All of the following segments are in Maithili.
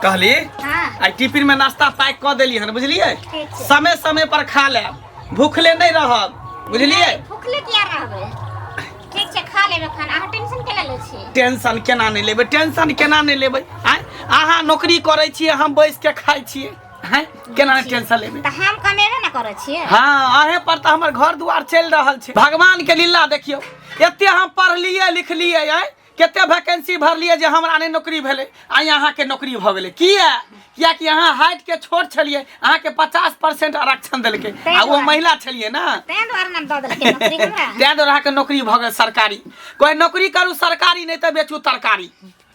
कहली हाँ आई टिफिन में नाश्ता पैक कऽ देली हन बुझलियै ठीक छै समय समय पर खा लेब भूखले नहि रहब बुझलियै भूखले किया रहबै ठीक छै खा लेबै खाना अहाँ टेंशन केना लै छी टेंशन केना नहि लेबै टेंशन केना नहि लेबै आँय अहाँ नौकरी करै छियै हम बैस के खाइ छियै आँय केना नहि टेंशन लेबै तऽ हम कमेबे ने करै छियै हाँ अहे पर तऽ हमर घर दुआर चलि रहल छै भगवान के लीला देखियौ एते हम पढ़लियै लिखलियै आँय कते वैकेंसी भरलियै जे हमरा नहि नौकरी भेलै आ अहाँके नौकरी भऽ गेलै किया कियाकि अहाँ हाइट के छोट छलियै अहाँके पचास परसेंट आरक्षण देलकै आ ओ महिला छलियै ने ताहि दुआरे ने दऽ देलकै नौकरी हमरा ताहि दुआरे अहाँके नौकरी भऽ गेल सरकारी कोइ नौकरी करू सरकारी नहि तऽ बेचू तरकारी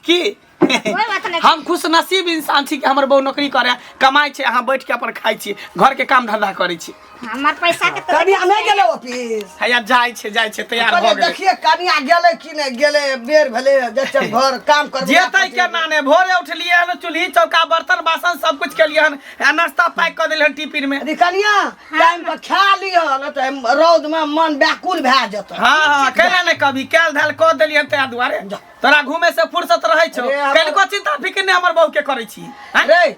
की कोई बात नहीं हम खुश नसीब इंसान छी कि हमर बहू नौकरी करे कमाई छै अहाँ बैठ के अपन खाई छी घर के काम धंधा करे छी हमर पैसा के तो कनिया नहीं गेले ऑफिस हैया जाइ छै जाइ छै तैयार भ कहलियै गेलै देखिए कनिया गेले कि नहीं गेले बेर भेले जब घर काम कर जेतै केना ने भोरे उठलियै हन चूल्ही चौका बर्तन बासन सब कुछ केलियै हन आ नाश्ता पैक कऽ देलियै हन टिफिन में अरे कनिया टाइम पर खा लियो न तो हम रौद में मन व्याकुल भए जतौ हाँ हाँ कैला ने कभी कैल धैल कऽ देलियै हन तैयार दुआरे तोरा घूमे से फुर्सत रहै छौ अरे, हमर- कनिको चिंता फिकिर नहि हमर बहू के करै छी हैं? रे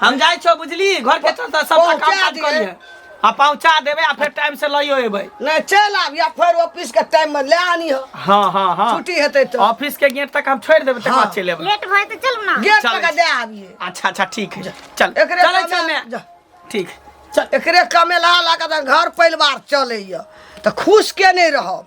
हम जाइ छौ बुझली घर के चलता सब काम पहुँचा काज दिहे। करिए आ पहुंचा देबे आ फिर टाइम से लइयो एबै नहीं चल आब या फिर ऑफिस के टाइम में ले आनी हो हाँ हाँ हाँ छुट्टी हेतै तो ऑफिस के गेट तक हम छोड़ देबे तक हाँ। बाद चलि एबै लेट होए तो चल ना गेट चल। तक दे आबिए अच्छा अच्छा ठीक है चल एकरे चलै कमे- छमे जा। ठीक चल एकरे कमेला लगा घर परिवार चलैया तऽ खुश के नहि रहब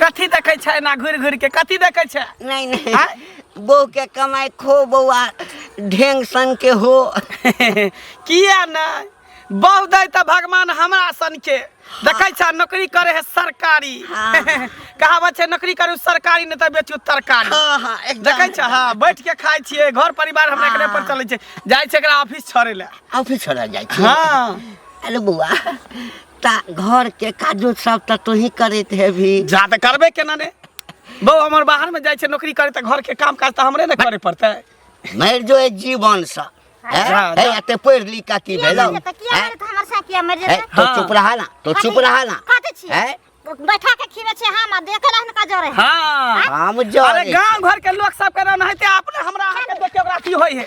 कथी देखै छै एना घुरि घुरि के कथी देखै छै नहीं नहीं आय? बहू के कमाई खो बउआ ढेंग सन के हो किया नहि बहु दै तऽ भगवान हमरा सन के देखै छै नौकरी करे है सरकारी हाँ। कहावत छै नौकरी करू सरकारी नहि तऽ बेचू तरकारी हाँ हाँ एकदम देखै छै हँ बैठ के खाइ छियै घर परिवार हमरा एकरे पर हाँ। चलै छै जाइ छै एकरा ऑफिस छोड़े लए ऑफिस छोड़ा जाए छी हाँ अरे बउआ ता घर के काजो सब त तू ही करत हेबी जा तऽ करबे केना ने बौ हमर बाहर में जाइ छै नौकरी करे तऽ घर के काम काज तऽ हमरे ने करे पड़तै मर जो ए जीवन सा हैं? जा, ए, जा। एते पढ़ लिख का की किया भेलो मर जेतै किया हैं? मर जेतै हमर साथ किया मर ए, जेतै तो हाँ। चुप रहा ना तो चुप रहा ना खाते छी हैं? बैठा के खीबे छी हम आ देखे रहन का जोरे हाँ हम जो अरे गांव घर के लोग सब के रहना है ते अपने हमरा अहाँ के देख के ओकरा की होई है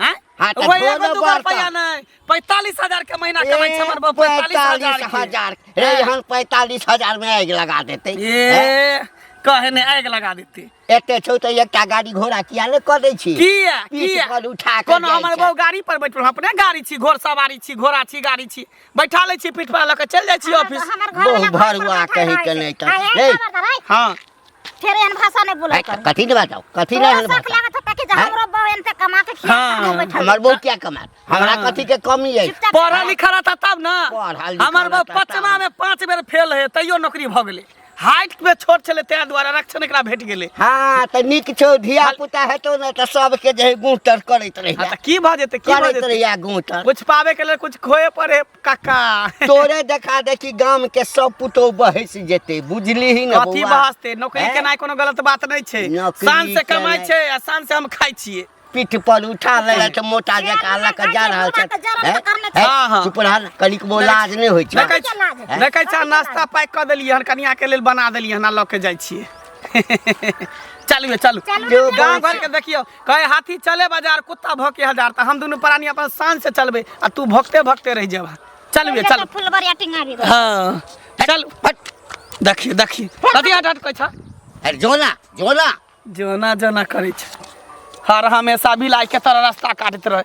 हैं? हाँ, तो वो एगो दोनों दूगो बड़का। रुपया नहीं पैतालीस हजार के महीना कमाई छै हमर बाप पैतालीस हजार के। हजार ए हाँ। यहाँ पैतालीस हजार में आगि लगा देते ए कहे ने आग लगा देते एते छौ तो एकटा गाड़ी घोड़ा किया ने कऽ दै छी किया पीठ किया पर उठा कऽ कोनो जाइ हमर छै। बहू गाड़ी पर बैठल अपने गाड़ी छी घोड़ सवारी छी घोड़ा छी गाड़ी छी बैठा लै छी पीठ पर लऽ के चल जाइ छी ऑफिस हमर घर बहु वाला घर पर भरुआ बैठल कहि रहै के छै। नहि तऽ। आ एक हे। नम्बर धराइ। हाँ फिर एहन भाषा नहीं बोला कर कथी ले बताओ कथी ले तोरा शक लागत होता कि जे हैं? हमरो बहू एनते कमा के खिया हाँ, के बैठल हमर बहू क्या कमात हमरा हाँ। कथी के कमी है चुपचाप पढ़ा लिखा रहता तब ना पढ़ल लिखल हमर बा रहता तब। पचमा में पांच बेर फेल है तैयो नौकरी भ गेले हाइट में छोट छले तें द्वारा आरक्षण एकरा भेट गेले हाँ तो निक छो धिया पुता है तो ना तो सबके जे है गुटर करैत हाँ रहिया त की भ जेते की भ करैत जेते रहिया गुटर कुछ पावे के लेल कुछ खोए पड़े काका तोरे देखा दे कि गाम के सब पुतोह बहस जेते बुझली ही ना कथी बौआ? बहसते नौकरी हैं? केनाइ कोनो गलत बात नहि छै नौकरी शान से कमाइ केनाइ। छै आ शान से हम खाइ छियै पीठ पर उठा ले छै मोटा जका लऽ के जा रहल छै हैं? हैं? हाँ, हाँ। चुप रह कनिक बो लाज नहि होइ छै देखै कथी के लाज हेतै? देखै छह नाश्ता पैक कऽ देलियै हन कनिया के लेल बना देलियै हन आ लऽ के जाइ छियै चलू यौ, चलू चलू जो ने, गाँव चलू। घर के देखियौ कहे हाथी चले बाजार कुत्ता भौके हजार त हम दुनू प्राणी अपन शान से चलबे आ तू भौकते भौकते रह जेबा चल बे चल फुलबरिया टिंगा भी हां चल हट देखी देखी कथी हट हट कहै छ अरे जोना जोना जोना जोना करै छ हर हमेशा बिलाई के तरह रास्ता काटत रहे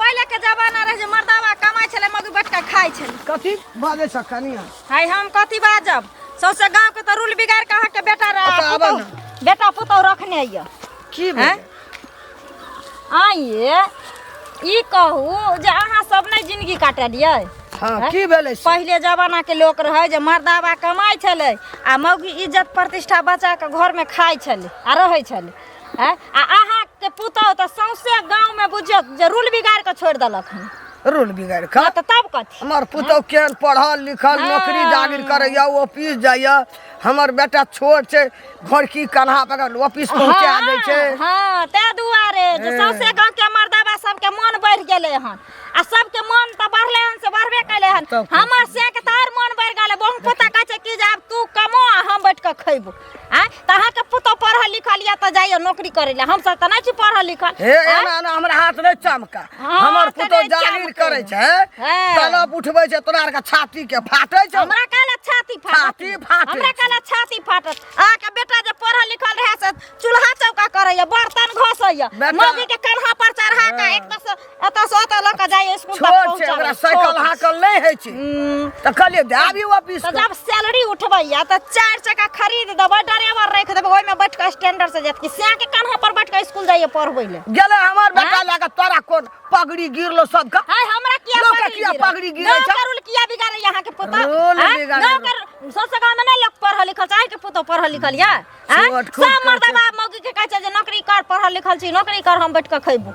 पहिले के जमाना रहे जे मर्दावा कमाई छले मगु बैठ के खाई छले कथी बाजे छ कनिया हाय हम कथी बाजब सौसे गांव के तो रूल बिगाड़ के अहाँ के बेटा अच्छा, आबऽ रहा न। बेटा पुतौ रखने आइए की हैं? भेल आइए ई कहू जे अहाँ सब नहीं जिंदगी काटे दियै हां हैं? की भेलै से? पहिले जमाना के लोग रहे जे मर्दावा कमाई छले आ मौगी इज्जत प्रतिष्ठा बचा के घर में खाई छले आ रहे छले हैं आ अहा के पुतौ त सौंसे गांव में बुझियो जे रूल बिगाड़ के छोड़ देलक हन रूल बिगड़ खा त तब कथी हमर पुतौ केहन पढ़ल लिखल हाँ। नौकरी जागिर करैया ओ ऑफिस जाइया हमर बेटा छोट छै घोड़की कन्हा पकड़ ऑफिस पहुंचा हाँ, दै छै हाँ ते दुआरे जे ए। सौंसे गांव के मर्दाबा सबके मन बढ़ गेले हन आ सबके मन त बढ़ले हन से बढ़बे कैले हन तब की? हमर से के तार मन बढ़ गेले बहु पोता कहै छै कि जे आब तू कमो आ हम बैठ के खैबो आँय तऽ अहाँके पुतहु पढ़ल लिखल यऽ तऽ जाइयो नौकरी करै लए हमसभ तऽ नहि छी पढ़ल लिखल हे आँय? एना एना हमरा हाथ नहि चमका हाँ, हमर तऽ पुतहु नहीं जागीर चमके। करै छै हाँ। तलब उठबै छै तोरा आरके छाती के फाटै छै हमरा कहला छाती फाटत छाती फाटै हमरा छै। कहला छाती फाटत अहाँके बेटा जे पढ़ल लिखल रहै से चूल्हा चौका करैया बर्तन घसैया बेटा- मौगी के कन्हा पर चढ़ा कऽ एक दस एतऽ से ओतऽ लऽ कऽ जाइए स्कूल तक छोट छै ओकरा पहुँचाबै साइकिल हाकल नहि होइ छै तऽ कहलियै दए आबी ऑफिस तऽ जब सैलरी उठबैया तऽ चारि चक्का खरीद देबै ड्राइवर राखि देबै ओहिमे बैठ कऽ स्टैंडर्ड से जेतकी सएह के कान्हा पर बैठ कऽ स्कूल जाइए पढ़बै ले गेलै हमर बेटा लए कऽ तोरा कोन पगड़ी गिरलो सबके हाय हमरा किया लोक के पगड़ी किया गिरल? पगड़ी गिरै गाँव छै? के रूल किया बिगाड़ै यहाँ के पुतौ रूल आँय? बिगाड़ै गाँव के रू- सौंसे गाँव में नहीं लोग पढ़ल लिखल छै के पुतौ पढ़ल लिखल या छोट खूब सब मर्दबा मौगी के कहै छै जे नौकरी कर पढ़ल लिखल छी नौकरी कर हम बैठ के खैबू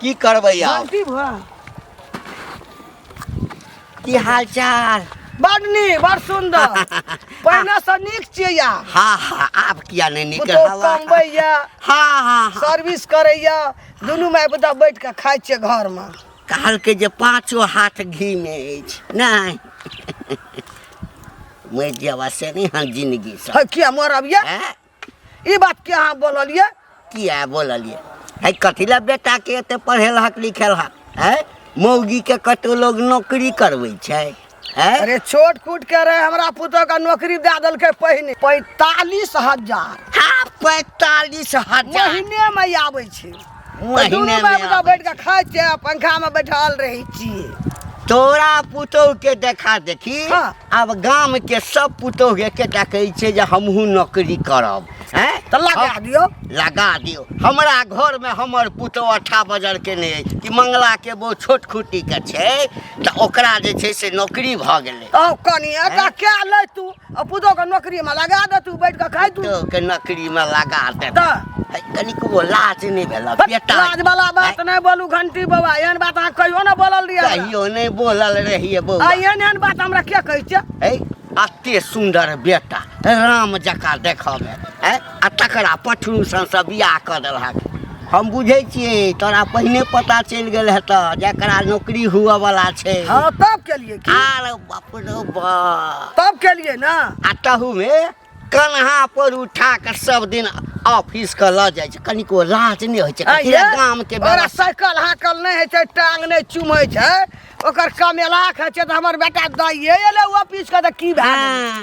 की करबै आब गलती भऽ की हाल चाल बड नीक बड सुन्दर पहिने से नीक छियै या हा हा आब किया नहि नीक पुतहु हवा कमबैया हा हा हा सर्विस करैया दुनू माय पुता बैठ कऽ खाइ छियै घरमे कहलकै जे पाँचो हाथ घी मे अछि नहि मरि जावा से नहि हम जिंदगी से हँ, किया मरब या हैं? ई बात के अहाँ बोललिए किया बोललिए है कथी ला बेटा के एते पढ़ेल हक लिखेल हक है मौगी के कतो लोग नौकरी करबै छै है अरे छोट कूट के रहे हमरा पुतोह का नौकरी दे देलकै पहिने पैतालीस हजार हाँ पैतालीस हजार महीने में आबै छै दुनू बाप का बैठ के खाए छे आ पंखा में बैठल रही छिए तोरा पुतोह के देखा देखी हाँ। अब गाम के सब पुतोह के एकेटा कहै छै जे हमहूँ नौकरी करब हैं तो लगा हम- दियो लगा दियो हमरा घर में हमर पुतोह अठा बजर के नहीं अछि कि मंगला के वो छोट खुटी के छै तऽ ओकरा जे छै से नौकरी भऽ गेलै ओ कनी एटा क्या ले तू आ पुतोके नौकरीमे लगा दे तू बैठ कऽ खाइ तू के नौकरीमे लगा दे तऽ है, कनिको लाज नहि भेल बेटा लाज वाला बात है, नहि बोलू घंटी बाबा एहन बात अहाँ कहियो ने बोलल रहियै हमरा। कहियो नहि बोलल रहिए आ बौआ एहन एहन बात हमरा के कहै छै है अते सुन्दर बेटा राम जकाँ देखऽमे है आ तकरा पठरू संसँ बियाह कऽ देलहक हम बुझै छियै तोरा पहिने पता चलि गेल हेतऽ जकरा नौकरी हुअ वाला छै हाँ तब के लिए की आर बाप रे बा तब के लिए ना आ तहूमे कन्हा पर उठा कऽ सब दिन ऑफिस के लऽ जाइ छै कनिको लाज नहि होइ छै हाँ, कथी ये? लए गाम के ओकरा व्यवस्था साइकिल हाकल नहीं है छै टांग नहीं चुमै छै ओकर कमेलाक है छै तऽ हमर बेटा दाइए एलै ऑफिस के तऽ की भए गेलै? हाँ,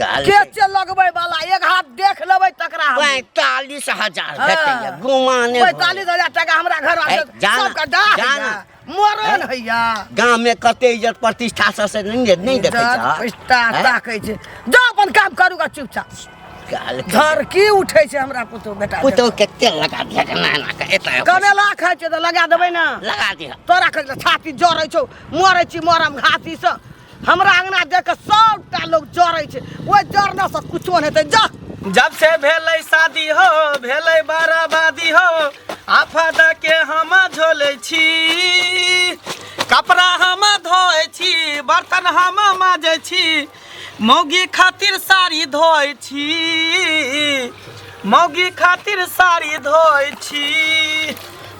काल के छै चल लगबै वाला एक हाथ देख लेबै तकरा हम। पैंतालीस हजार हाँ। भेटैया गुमाने भऽ पैतालीस गेल। हजार टाका हमरा घर ए, आबै जान- सबके डाह जान। हैया, मरण हैया गाम में कते इज्जत प्रतिष्ठा सब से नहीं नहीं देखे इज्जत, छह? पैसा हैं? ताकै छै जा अपन काम करू गा चुपचाप काल के- घर की उठै छै हमरा पुतहु बेटा पुतहु के तेल लगा दिया के नाना के एता कमेला खाइ छै तऽ लगा देबै ने लगा दिया तोरा कहै छौ छाती जरै छौ मरै छी मरम घातीसँ हमरा अंगना देख के सबटा लोग जरै छै ओइ जरना से कुछो नै हेतै जा जब से भेलै शादी हो भेलै बराबादी हो आफत के हम झोले छी कपड़ा हम धोए छी बर्तन हम माजे छी मौगी खातिर साड़ी धोए छी मौगी खातिर साड़ी धोए छी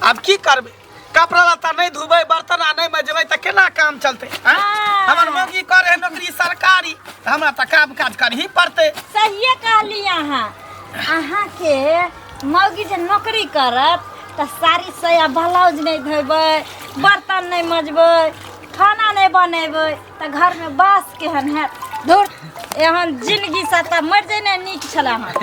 आब की करबै कपड़ा लत्ता नहीं धुबे बर्तन आ नहीं मजबे त केना काम चलते आँय? हाँ। हमर मौगी करे नौकरी सरकारी त हमरा त काम काज करही पड़ते सहिए कहली अहाँ अहाँ के मौगी जे नौकरी करत तऽ साड़ी साया ब्लाउज नहि धोबै बर्तन नहि मजबै खाना नहि बनेबै तऽ घरमे बास केहन हैत धुर एहन जिनगी से तऽ मरि जेनाइ नीक छलै हँ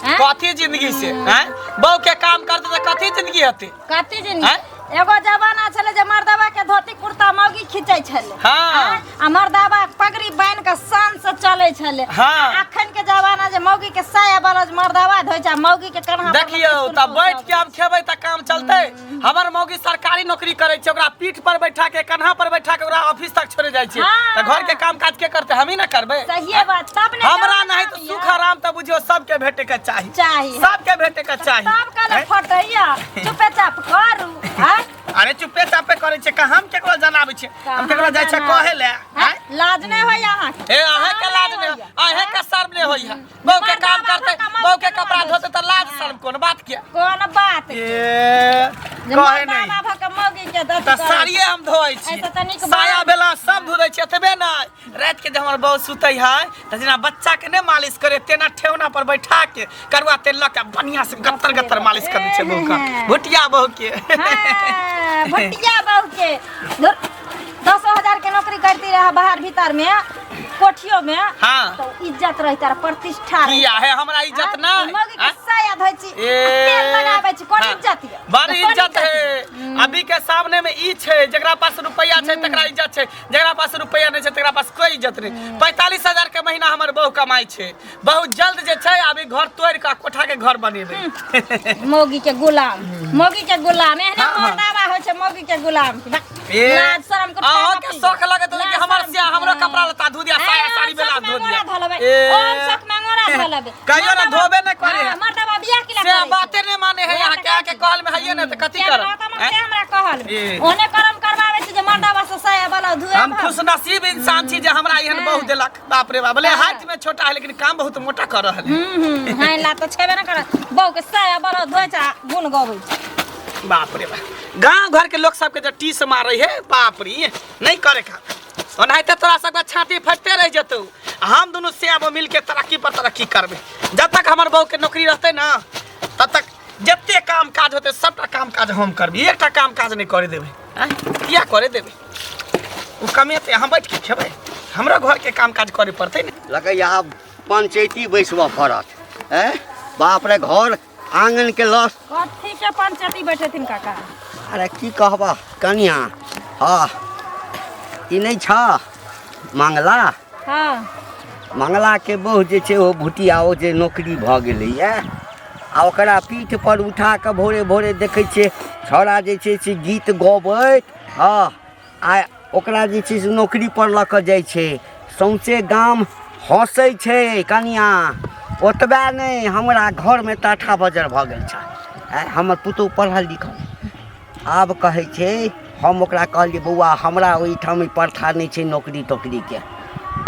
आँय? कथी जिंदगी से हैं बहू के काम करते त कथी जिंदगी हते कथी दिन आँय? एगो जमाना छले जे मर्दवा के धोती कुर्ता मौगी खींचे छले हाँ। आँय? आ मर्दवा पगड़ी बांध के शान से चले छले हाँ। आ अखन के जमाना जे मौगी के साया बरज मर्दवा धोइ छै आ मौगी के कन्हा पर देखियौ लटकि तऽ सुन बैठ के पहुँचाबै। आब खेबै तऽ काम चलतै हमर मौगी सरकारी नौकरी करै छै ओकरा पीठ पर बैठा के कन्हा पर बैठा के ओकरा ऑफिस तक छोड़े जाइ छै हँ। तऽ घर के काम काज के करतै हमही ने करबै सहिए बात तब ने हमरा जमाना नहि तऽ सुख आराम तऽ बुझियो सबके भेटे के चाही चाही सबके भेटे के चाही सब कहले हैं? फटैया चुपे चाप करू हैं? अरे चुपे चापे करे छै का हम केकरो जनाबै छै हम केकरो जाइ छै कहाँ कहे ले हैं? हैं? लाज नहीं होय अहाँ के। ए अहे के लाज ने अहे के शर्म ने होइया बहू के काम करते बहू के कपड़ा धोते तऽ लाज शर्म कोन बात के कोन बात ए जे कहे मर्दा नहि बाबा के मौगी के दस तऽ साड़िए हम धोइ छी ऐसे तऽ नीक साया बात। बेला सब धो दै छी एतबे नहि रात के जब हमार बहू सुते है तो जेना बच्चा के ने मालिश करे तेना ठेहुना पर बैठा के करुआ तेल लग के बढ़िया से गत्तर गत्तर मालिश कर दे छै बहू का भुटिया बहू के हाँ, भटिया बहू के धुर, दसो हजार के नौकरी करती रहा बाहर भीतर में कोठियो में हाँ। तो इज्जत रही तार प्रतिष्ठा रही किया है हमरा इज्जत ना हाँ, मौगी के साया धोइ छी ए, तेल लगाबै छी कोन हाँ, इज्जत ये बड़ कोन इज्जत है अभी के सामने में ई छै जकरा पास रुपया छै तकरा इज्जत छै जरा पास रुपया नहीं छै तकरा पास कोई इज्जत नहीं हम्म। पैंतालीस हजार के महीना हमर बहु कमाई छै बहुत जल्द जे छै अभी घर तोड़ के कोठा के घर बनेबे हम्म। मौगी के गुलाम मौगी के गुलाम एहने हाँ, हाँ। मरदावा हो छै मौगी के गुलाम लाज शर्म के अहो के शौक लगे तो कि हमर से हमरो कपड़ा लता धो दिया साया साड़ी बेला धो दिया ए शौक में मोरा धो लेबे कहियो ना धोबे ना करे हां मर्दा बा बियाह के से बाते ने माने है यहां के आके कहल में हइए ना त कथि कर हमरा कहल ओने करम करवावे छी जे मर्दा बा से सया वाला धुए हम खुश नसीब इंसान छी जे हमरा एहन बहुत देलक बाप रे बाप ले हाथ में छोटा है लेकिन काम बहुत मोटा कर रहल है हम्म हां ला त छेबे ना कर बहु के सया वाला धुए छा गुन गबै बाप रे बाप गांव घर के लोग सब के जे टीस मारै है बाप रे नहीं करे का ओनाहिते तोरा सबके छाती फटते रह जतौ आ हम दुनू से अब मिल के तरक्की पर तरक्की करबे जब तक हमर बहू के नौकरी रहते ना तब तक जते काम काज होते सबटा काम काज हम करबी एकटा काम काज नहीं करे देबे आँय? किया करे देबे ओ कमेते हम बैठ के खेबै हमरा घर के काम काज करे पड़ते ने लगैया आब पंचैती बैसबऽ पड़त हैं बाप रे घर आंगन के लस कथी के पंचती बैठेथिन काका अरे की कहबा कनिया हाँ ई नहीं छ मंगला हाँ मंगला के बहु जे छै ओ भुटिया ओ जे नौकरी भऽ गेलैए आ ओकरा पीठ पर उठा कऽ भोरे भोरे देखै छियै छौड़ा जे छै से गीत गबैत हँ आ ओकरा जे छै से नौकरी पर लऽ कऽ जाइ छै सौंसे गाम हँसै छै कनिया ओतबे नहि हमरा घरमे टाठा बजर भऽ गेल छै आइ हमर पुतहु पढ़ल लिखल आब कहै छै हम ओकरा कहलियै बौआ हमरा ओहिठाम ई प्रथा नहि छै नौकरी तोकरीके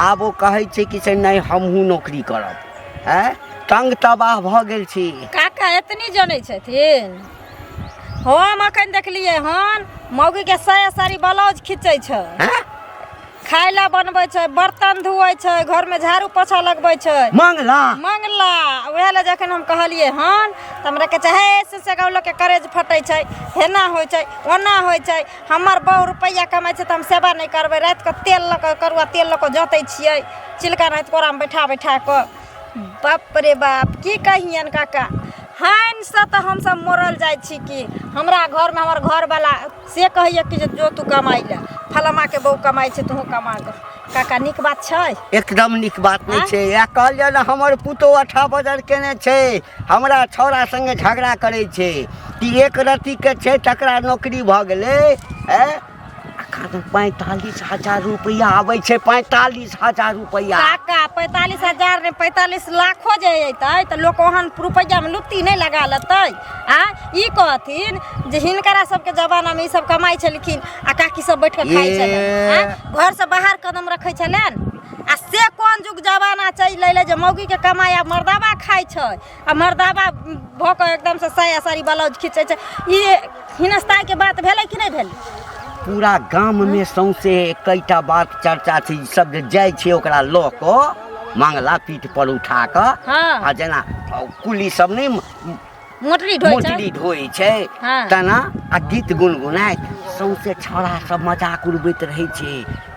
आब ओ कहै छै कि से नहि हमहूँ नौकरी करब आँय तंग तबाह भऽ गेल छी काका एतनी जनै छथिन हम अखन देखलियै हन मौगी के साया साड़ी ब्लाउज खींचे छै खाय ला बनबै छै बर्तन धुए छै घर में झाड़ू पोछा लगबै छै मंगला मंगला उएह लए जखन हम कहलियै हन तऽ हमरा कहै छै हे से से गाँव लोकके करेज फटै छै हेना होइ छै ओना होइ छै हमर बहु रुपैआ कमाइ छै तऽ हम सेवा नहि करबै रातिके तेल लऽ कऽ करुआ तेल लऽ कऽ जोतै छियै चिलका नाहैत कोरामे बैठा बैठा कऽ बाप रे बाप की कहियन काका हानि से तऽ हमसभ मरल जाइ छी कि हमरा घरमे हमर घरवला से कहैया कि जे जो तू कमाइ लए फलामाके बहू कमाइ छै तूहूँ कमा गऽ काका नीक बात छै एकदम नीक बात नहि आँय? छै इएह कहल जाए ने हमर पुतोह अठा बजर केने छै हमरा छौड़ा संगे झगड़ा करै छै कि एक रत्तीके छै तकरा नौकरी भऽ गेलै ए एखन पैंतालिस हजार रुपैआ आबै छै पैंतालिस हजार रुपैआ काका पैंतालिस हजार नहि पैंतालिस लाखो जे अयतै तऽ लोक ओहन रुपैआमे लुत्ती नहि लगा लेतै आ ई कहथिन जे हिनकरा सबके जमानामे ई सब कमाइ छलखिन आ काकी सब बैठ कऽ खाइ ये। छलै घरसँ बाहर कदम रखै छलनि आ से कोन जुग जमाना चलि अयलै जे मौगीके कमाइ आ मर्दाबा खाइ छै आ मर्दाबा भऽ कऽ एकदमसँ साया साड़ी ब्लाउज खींचै छै ई हिनस्ताइके बात भेलै कि नहि भेलै पूरा गाममे सौंसे एकैटा बात चर्चा छै ई सब जे जाइ छै ओकरा लऽ कऽ मंगला पीठ पर उठा कऽ हँ। आ जेना कुली सब नहि मोटरी ढोइ छै मोटरी ढोइ छै हँ। तेना आ गीत गुनगुनाइत सौंसे छौड़ा सब मजाक उड़बैत रहै छै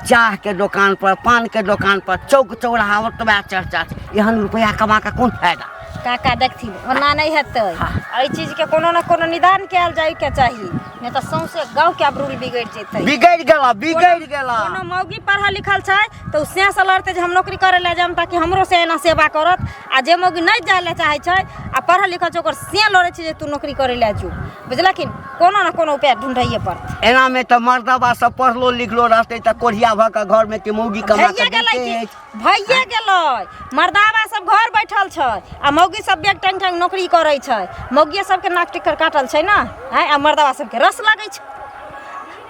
चाह के दुकान पर पान के दुकान पर चौक चौराहा ओतबा चर्चा छै एहन रुपया कमा के कोन फायदा काका देखथिन ओना नहि हेतै हाँ। एहि चीजके कोनो ने कोनो निदान कयल जायके चाही नहि तऽ सौंसे गाँवके आब रूल बिगड़ि जेतै बिगड़ि गेला बिगड़ि गेला कोनो मौगी पढ़ल लिखल छै तऽ ओ से से लड़तै जे हम नौकरी करै लए जायब ताकि हमरो से एना सेवा करत आ जे मौगी नहि जाय लए चाहै छै आ पढ़ल लिखल छै ओकर से लड़ै छै जे तू नौकरी करै लए जो बुझलखिन कोनो ने कोनो उपाय ढूंढैए पड़तै एना में तो मर्दबा सब पढ़लो लिखलो रहते तो कोढ़िया भ के घर में के मौगी कमा के भैया गेलै देते कि- अछि। भैया गेलै मर्दाबा सब घर बैठल छै आ मौगी सब बेग टांग टांग नौकरी करै छै मौगिया सबके नाक टिकर काटल छै ने आँय, आ मर्दाबा सबके रस लगै छै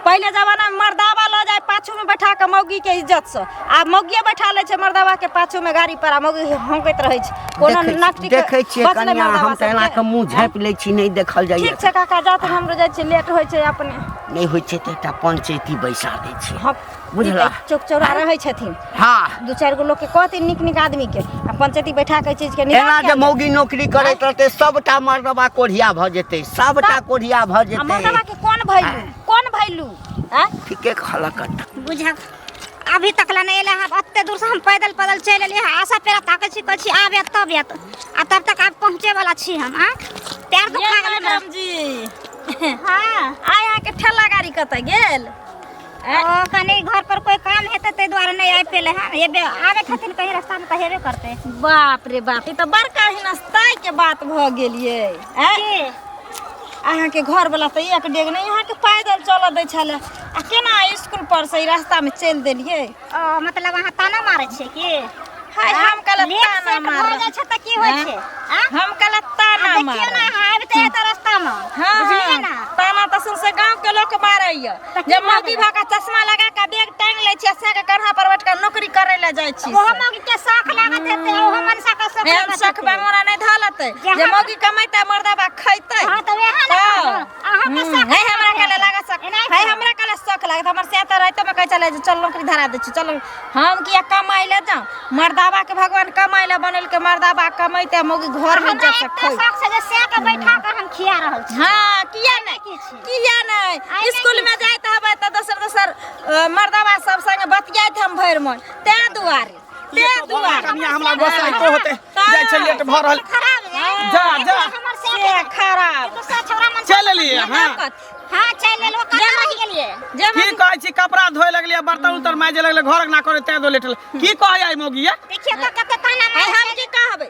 पहिले जमानामे मर्दावा लऽ जाय पाछूमे बैठा कऽ मौगीके इज्जतसँ आ मौगिए बैठा लै छै मर्दावाके पाछूमे गाड़ी पर आ मौगी हौंकैत रहै छै कोनो देखै- नास्टिक देखै छियै बचलै कनिया मर्दावा हम तऽ एना सबके। कऽ मुँह झाँपि लै छी नहि देखल जाइए ठीक छै काका जा तऽ हमरो जाइ छै लेट होइ छै अपने नहि होइ छै तऽ एकटा पंचैती बैसा दै छियै हँ बुझला। चौक चौरा रहै छथिन हाँ दू चारि गो लोग के कहते निक निक आदमी के आ पंचायती बैठा के चीज के एना निकाल जे के मौगी नौकरी करैत रहतै सबटा मर्दबा कोढ़िया भऽ जेतै सबटा कोढ़िया भऽ आ जेतै मर्दवा के कोन भैलू कोन भैलू हैं ठीके कहलक बुझा अभी तक ला नहीं एला हम अत्ते दूर से हम पैदल पैदल चल एलिए हैं आशा पेरा ताके छी कह छी आबे तब एत आ तब तक आप पहुँचे वाला छी हम आ पैर दुखा गेल हमरा जी हां आय अहाँ के ठेला गाड़ी कतऽ गेल ओ कनि घर पर कोई काम हेतै ताहि दुआरे नहि आबि पेले हँ एबे आबै छथिन कहीं रास्ता में तऽ हेबे करतै बाप रे बाप ई तऽ बड़का हिनस्ताय के बात भऽ गेल ये ऐं? की अहाँके घर वाला तऽ एक डेग नहि अहाँके पैदल चलऽ दै छलै आ केना स्कूल पर से ई रास्ता में चलि देलियै ओ मतलब अहाँ ताना मारै छियै की हाय हम कहलक लेट ताना सेट मार भऽ जाइ छै तऽ की होइ आँय? छै आँ? हम कहलक आ ताना देखियौ मार ने अहाँ आबि तऽ एतऽ रास्ता में हाँ बुझलियै ने ताना तऽ सुन से गाँव के लोक मारैया जे मौगी भऽ कऽ चश्मा लगा कऽ बैग टांगि लै छी से के कन्हा पर बैठ कऽ नौकरी करै लए जाइ छी ओहो मौगी के शौक लागत हेतै ओहो मनसा के शौक एहन लागत शौक बंगोरा नहि धऽ लेतै जे मौगी कमेतै मर्दबा खैतै हां तऽ वएह ने हँ। कहलहुँ। अहाँ के हम्म, शौक है हमरा लागत। कले लागत शौक एनाहिते। है हमरा कले शौक लागत हमर से तऽ राइतो में कहै चले जे चल नौकरी धरा दै छी चल हम किया कमाइ ले जाऊं मर्दाबा के भगवान कमाइ ले बनल के मर्दाबा कमैते मौगी घर में हमरा जब एते तक खै शौक छै जे से के बैठा कऽ हम खिया रहल छी हाँ किया नहि किछु किया नहि स्कूलमे जाइत हबै तऽ दोसर दोसर मर्दबा सब संगे बतियाइत हम भरि मन तै दुआरे तै दुआरे कनिया हमरा गोसाई को होते जाय छै लेट भ रहल जा जा से खराब चल लिए हां हां चल लेलो कतऽ रह गेलिए की कहै छी कपड़ा धोए लगलिए बर्तन उतर माजे लगले घर ना करे तै दो लेटल की कहै आई मोगिया देखिए कते ताना मार हम की कहबै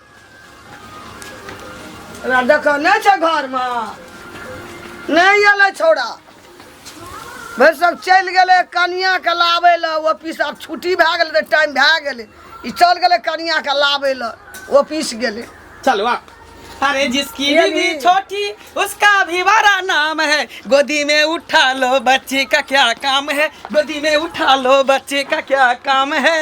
हमरा देखऽ नहि छै घरमे नहि अयलै छौड़ा भरि सब चलि गेलै कनियाके लाबै लए ऑफिस आब छुट्टी भए गेलै तऽ टाइम भए गेलै ई चलि गेलै कनियाके लाबै लए ऑफिस गेलै चलो आप अरे जिसकी ये बीवी भी- छोटी उसका भी बड़ा नाम है गोदी में उठा लो बच्चे का क्या काम है गोदी में उठा लो बच्चे का क्या काम है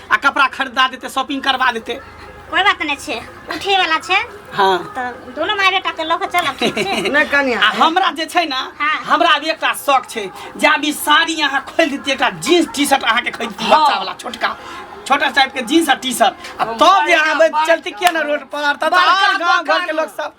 आ कपड़ा खरीदा देते शॉपिंग करवा देते कोई बात नहीं छे उठे वाला छे हाँ तो दोनों माय बेटा के लोग चलब ठीक छे नहीं कनिया आ हमरा जे छै ना हाँ। हमरा अब एकटा शौक छै जे आब ई साड़ी अहाँ खोल देतियै एकटा जीन्स टी शर्ट अहाँ के खरीदती हाँ। बच्चा वाला छोटका छोटा टाइप के जीन्स आ टी शर्ट आ हम तब जे बढ़िया अहाँ बे- बात चलती किया ना रोड पर तब बड़का और गांव घर के दोकान लोग सब